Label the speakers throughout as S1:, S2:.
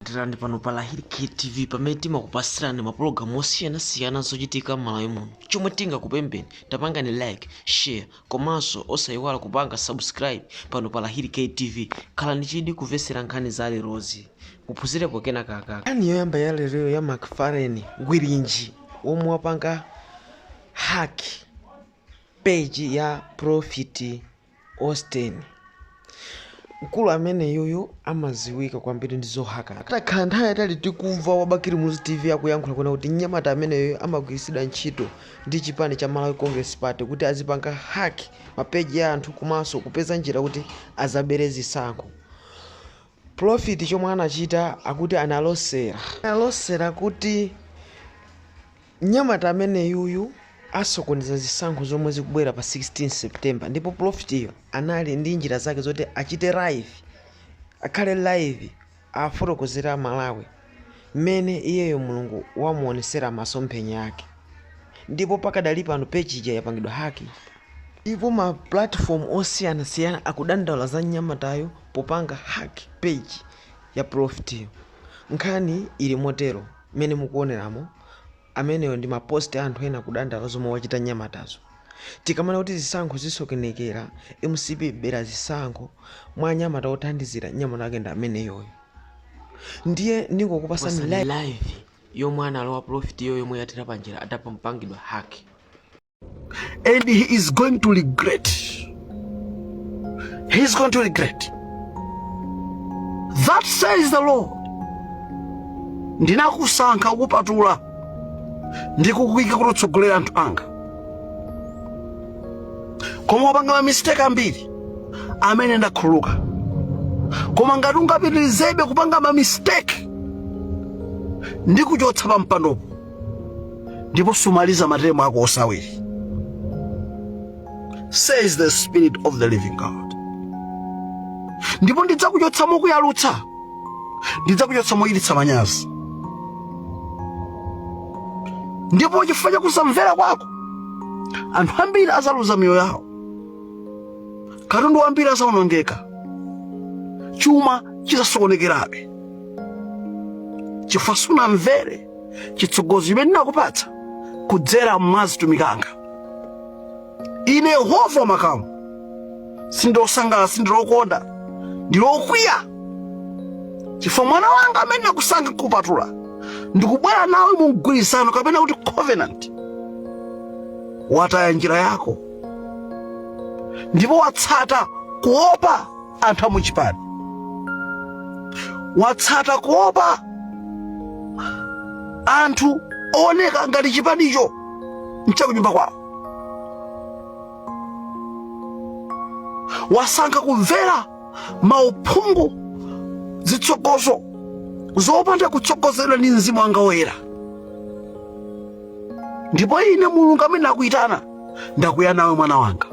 S1: tirani pano pa lahiri ktv pamene timakupasirani mapulogalamu osiyanasiyana zochitika m'malawi muno chomwe tingakupempheni tapangani like share komanso osayiwala kupanga subscribe pano pa lahiri ktv khalani ndi chidwi kumvetsera nkhani za lerozi muphunzirepo kenakake nkhani yoyamba ya lero ya McFarlane gwirinji yemwe wapanga hack page ya prophet Austin. Mkulu ameneyuyu amaziwika kwambiri ndi zohaka. Takhala nthawi yaitali tikumva wa Bakili Muluzi TV akuyankhula kunena kuti mnyamata ameneyoyo amagwiritsidwa ntchito ndi chipani cha Malawi Congress Party kuti azipanga hack ma page ya anthu komanso kupeza njira kuti azabere zisankho. Prophet chomwe anachita akuti analosera. Analosera kuti Mnyamata ameneyuyu asokoneza zisankho zomwe zikubwera pa 16 September ndipo pulofitiyo anali ndi njira zake zoti achite live, akhale live afotokozere a Malawi mmene iyeyo Mulungu wamuonesera masomphenya ake ndipo pakadali pano page ija yapangidwa hack ndipo ma platform osiyanasiyana akudandaula za mnyamatayu popanga hack page ya pulofitiyo. Nkhani ili motero. Mmene mukuoneramo, ameneyo ndi ma post a anthu ena kudandaula zomwe wachita mnyamatazo. Tikamanena kuti zisankho zisokenekera, mcp ibera zisankho, mwa anyamata othandizira, mnyamata wake ndi ameneyoyo. Ndiye ndingokupasani live yomwe analowa profitiyo yomwe yathera panjira atapangidwa hack.
S2: and he is going to regret he is going to regret that says the lord ndinakusankha nkukupatula ndi kukuika kuti utsogolere anthu anga koma wapanga mamistake ambiri amene ndakhululuka koma ngati ungapitirizebe kupanga mamistake ndikuchotsa pa mpandopo ndipo sumaliza matemu ako onse awiri says the spirit of the living god ndipo ndidzakuchotsa mokuyalutsa ndidzakuchotsa mochititsa manyazi ndipo chifukwa cha kusamvera kwako anthu ambiri azaluza miyoyo yawo katundu wambiri azawonongeka chuma chizasokonekerabe chifukwa sunamvere chitsogozo chimene ndinakupatsa kudzera mwa azitumiki anga ine yehova wa makamu sindili osangalala sindili okondwa ndili okwiya chifukwa mwana wanga amene ndinakusankha nkupatula ndikubwera nawe mu mgwirizano kapena kuti covenant wataya njira yako ndipo watsata kuopa anthu amuchipani watsata kuopa anthu ooneka ngati chipanicho nchakunyumba kwawo wasankha kumvera mauphungu zitsogozo zopanda kutsogozedwa ndi mzimu wanga woyera ndipo ine mulungu amene nakuyitana ndakwiya nawe mwana wanga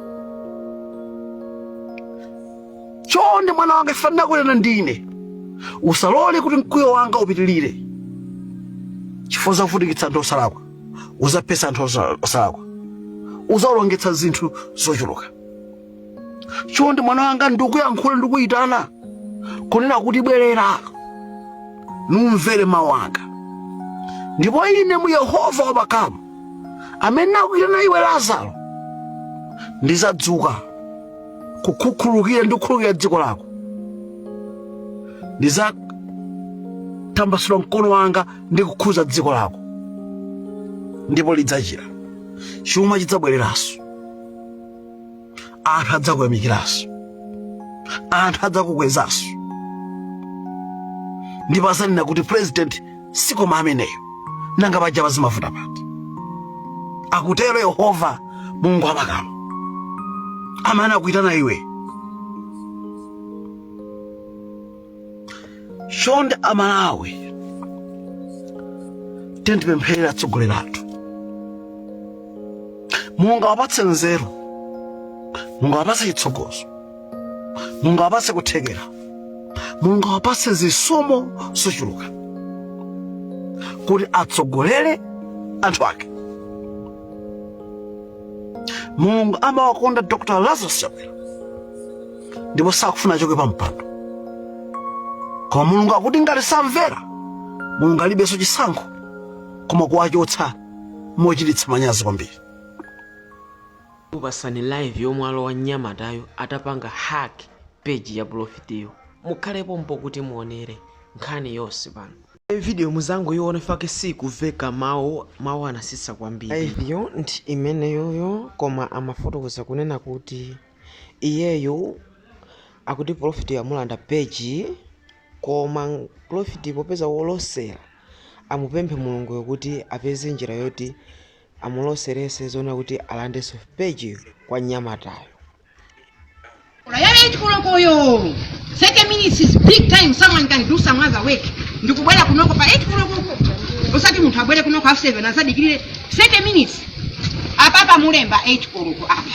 S2: chonde mwana wanga chifukwa ndinakulera ndine usalole kuti mkwiyo wanga upitirire chifukwa uzavutikitsa anthu osalakwa uzaphetsa anthu osa- osalakwa uzaonongetsa zinthu zochuluka chonde mwana wanga ndikuyankhula ndikuyitana kunena kuti bwerera numvere mawu anga ndipo ine mu yehova wamakamu amene nakuyitana iwe lazaro ndizadzuka kukukhululukira ndi kukhululukira dziko lako ndizatambasula mkono wanga ndi kukhuza dziko lako ndipo lidzachira chuma chidzabwereranso anthu adzakuyamikiranso anthu adzakukwezanso ndipo azanena kuti president sikoma ameneyo nanga paja pazimavuta pati akutero yehova mulungu wamakamu amene anakuyitana iwe chonde amalawi tiyeni tipempherere atsogoleri athu mulungu awapatse nzeru mulungu awapatse chitsogozo mulungu awapatse kuthekera mulungu awapatse zisomo zochuluka kuti atsogolere anthu ake mulungu amawakonda dr lazarus chakwera ndipo sakufuna achoke pa mpando koma mulungu akuti ngati samvera mulungu alibenso chisankho koma kuwachotsa mochititsa manyazi kwambiri
S1: ndikupasani live yomwe alowa mnyamatayo atapanga hack page ya profitiyo mukhale pompo kuti muonere nkhani yonse pano video muzangoyiona fake sikumveka mawu mawu anatsitsa kwambiri liveyo ndi imeneyoyo koma amafotokoza kunena kuti Iyeyo akuti profiti amulanda page koma profiti popeza wolosera amupemphe mulunguyo kuti apeze njira yoti amuloserenso zoona kuti alandenso page kwa mnyamatayo.
S3: Ola ya 8 koloko yo 30 minutes is big time someone can do some other work ndikubwera kunoko pa 8 koloko uko osati munthu abwere kunoko half 7 azadikirire 30 minutes apapa mwalemba 8 koloko apa